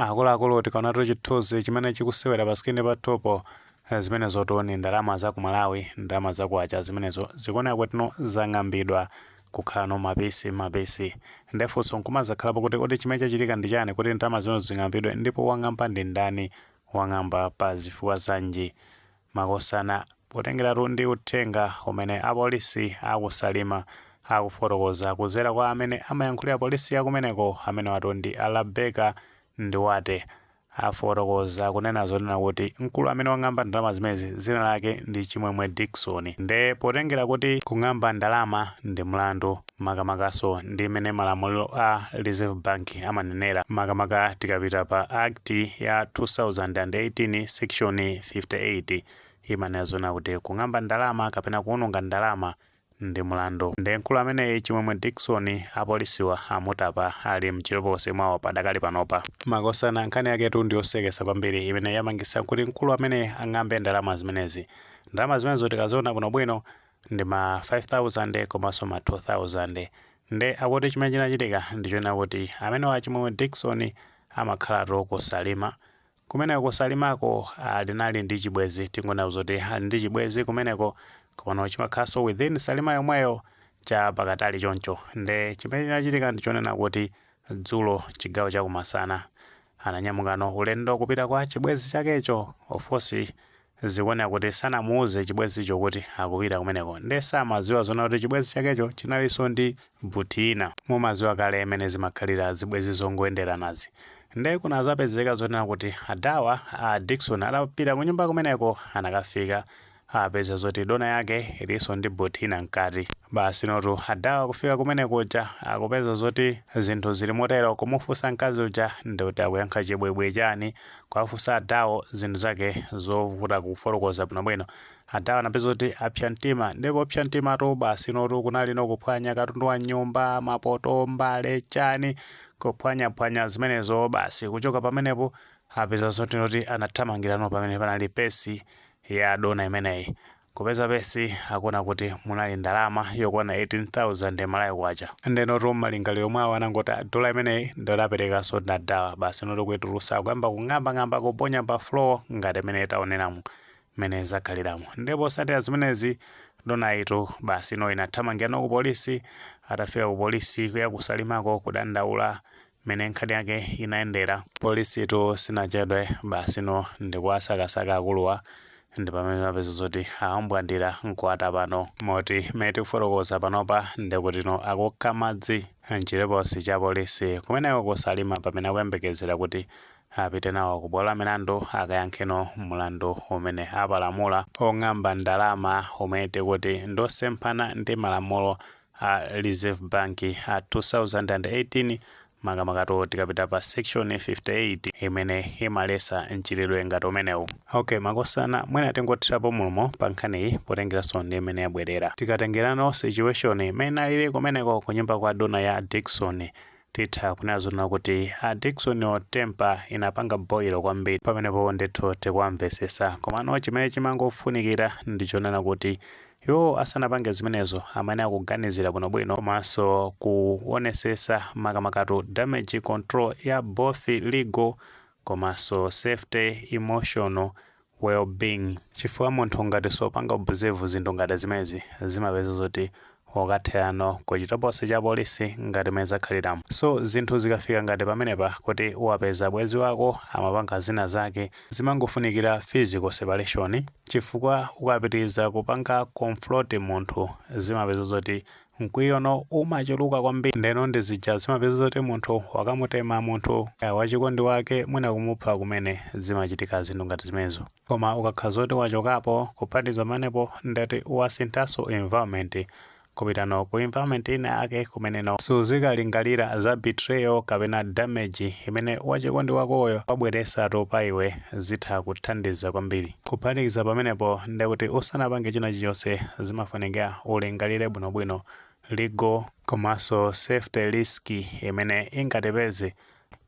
Akuluakulu tikaonatu chithuzi chimene chikusewera pa screen pathupo zimenezotu ni ndalama za ku Malawi ndalama za kwacha zimenezo zikuoneka kuti zang'ambidwa kukhalano mapisi mapisi nde funso nkumazakhalapo kuti kodi chimene chachitika ndi chani kuti ndalama zimenezo zing'ambidwe ndipo wang'amba ndi ndani wang'amba pa zifukwa zanji makosana potengeratu ndi uthenga umene apolisi aku Salima akufotokoza kuzera kwa amene amayankhulira polisi yakumeneko amenewatu ndi a Rabecca Ndiwate afotokoza kunena zoona kuti mkulu amene wang'amba ndalama zimenezi zina lake ndi Chimwemwe Dickson nde potengera kuti kung'amba ndalama ndi mlandu makamakanso ndi mmene malamulo a Reserve Bank amanenera, makamaka tikapita pa Act ya 2018 section 58 imanena zoona kuti kung'amba ndalama kapena kuwononga ndalama ndi mlandu. Nde mkulu ameneyi Chimwemwe Dickson apolisiwa amutapa ali m'chitokosi mwawo padakali panopa. Makosana, nkhani yaketu ndi yosekesa kwambiri imene yapangisa kuti mkulu ameneyi ang'ambe ndalama zimenezi. Ndalama zimenezo tikaziona bwinobwino, ndi ma 5000 komanso ma 2000 nde akuti chimene chinachitika ndichonena kuti amenewa a Chimwemwe Dickson amakhalatu ku Salima kumeneko ku Salimako analinali ndi chibwezi tingonena zoti ali ndi chibwezi kumeneko komano chimakhalanso within Salima yomweyo chapatali choncho nde chimene chinachitika ndichonena kuti dzulo chigawo chakumasana ananyamukano ulendo kupita kwa chibwezi chakecho of course Zikuoneka kuti sanamuuze chibwenzicho kuti akupita kumeneko nde samadziwa zoona kuti chibwenzi chakecho chinalinso ndi buti ina. Mumadziwa kale mmene zimakhalira zibwenzi zongoyenderanazi. Nde kunadzapezeka zonena kuti adhawa, a Dickson, atapita kunyumba kumeneko anakafika apeza zoti dona yake ilinso ndi buti ina mkati. Basinotu adhawa kufika kumenekuja akupeza zoti zinthu zili motero kumufunsa mkazi uja ndikuti akuyankha chibwibwi chani Kuwafunsa adhawo zinthu zake zovuta kufotokoza bwinobwino, adhawa anapeza kuti apsa mtima. Ndiye kupsa mtimatu basinotu kunalino kuphwanya katundu wa m'nyumba, mapoto, mbale, chani, kuphwanyaphwanya zimenezo basi. Kuchoka pamenepo apeza zotinotu anathamangirano pamene panali pesi ya dona imeneyi. Kupeza pesi akuona kuti munali ndalama yokwana 18,000 ya Malawi kwacha. Ndenotu mmalingaliro mwawo anangoti ah dolla imeneyi ndiyoti aperekaso ndadhawa basinotu kuitulusa akuyamba kung'amba ng'amba kuponya pa floor ngati mmene taoneramu mmene zakhaliramu ndiye posatira zimenezi donayitu basino inathamangirano ku police atafika ku police yaku salimako kudandaula mmene nkhani yake inayendera. Polisitu sinachedwe, basino ndikuwasakasaka akuluwa ndipamene imapeza zoti awambwandira nkuwatapano moti mmene tikufotokoza panopa ndekutino akukha madzi mchitokosi cha polisi kumeneko ku Salima pamene akuyembekezera kuti apite nawo ku bwalo la milandu akayankheno mlandu umene apalamula ong'amba ndalama umene tikuti ndiosemphana ndi malamulo a a Reserve Bank a 2018 makamakatu tikapita pa section 58 imene imalesa mchitidwe ngati umenewu ok makosana mwina tingothirapo mulomo pa nkhaniyi potengeranso ndi imene yabwerera tikatengerano situation imene inalili kumeneko ku nyumba kwa dona ya a Dickson titha kunena zona kuti a Dicksonwo tempa inapanga boilo kwambiri pamenepo ndithu tikuwamvesesa komano chimene chimangofunikira ndi chonena kuti Iwo asanapange zimenezo amayenera kuganizira bwino bwino komanso kuonesesa makamakatu damage control ya both legal komanso safety, emotional well being. Chifukwa munthu ngati supanga observe zinthu ngati zimenezi zimapeza zoti wakatherano kuchitokosi cha polisi ngati mmene zakhaliramo. So zinthu zikafika ngati pamenepa kuti wapeza bwezi wako amapanga zina zake Zimangofunikira physical separation chifukwa ukapitiriza kupanga confront munthu zimapeza zoti mkwiyono umachuluka kwambiri ndeno ndi zija zimapeza zoti munthu wakamutema munthu wachikondi wake mwina kumupha kumene zimachitika zinthu ngati zimenezo koma ukakhala zoti wachokapo kuphatikiza pamenepo ndeti wasinthanso environment kupitano ku environment ina yake kumeneno suzikalingalira za betrayal kapena damage imene wachikondi wakoyo wabweresatu pa iwe zitha kuthandiza kwambiri. Kuphatikiza pamenepo ndekuti usanapange china chilichonse zimafunikira ulingalire bwinobwino legal komanso safety risk imene ingatipeze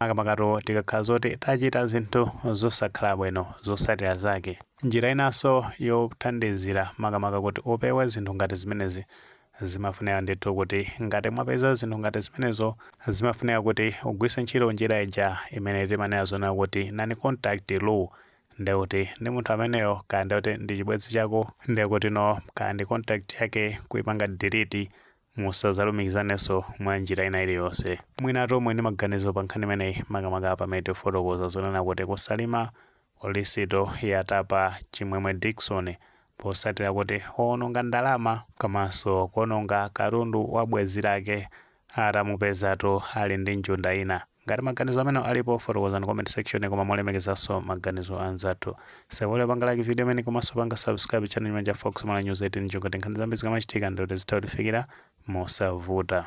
makamakatu tikakhala zoti tachita zinthu zosakhala bwino zotsatira zake. Njira inanso yothandizira makamaka kuti upewe zinthu ngati zimenezi, zimafunika ndithu kuti ngati mwapeza zinthu ngati zimenezo, zimafunika kuti ugwiritse ntchito njira ija imene timanena zonena kuti non-contact rule. Ndekuti ndi munthu ameneyo, kaya ndekuti ndi chibwenzi chako, ndekutino kaya ndi contact yake, kuipanga delete, Musadzalumikizanenso mwa njira ina iliyonse. Mwina tumve ndi maganizo pa nkhani imeneyi makamaka pamene tifotokoza zonena kuti ku Salima polisitu yatapa Chimwemwe Dickson potsatira kuti waononga ndalama komanso kuononga katundu wa bwenzi lake atamupezatu ali ndi njunda ina. Ngati maganizo amenewo alipo, fotokozani mu comment section koma molemekezanso maganizo a anzathu. Osaiwala kupanga like video imeneyi komanso panga subscribe channel chimenechi cha Fox Malawi News 18 June kuti nkhani zambiri zikamachitika ndekuti zitha kutifikira mosavuta.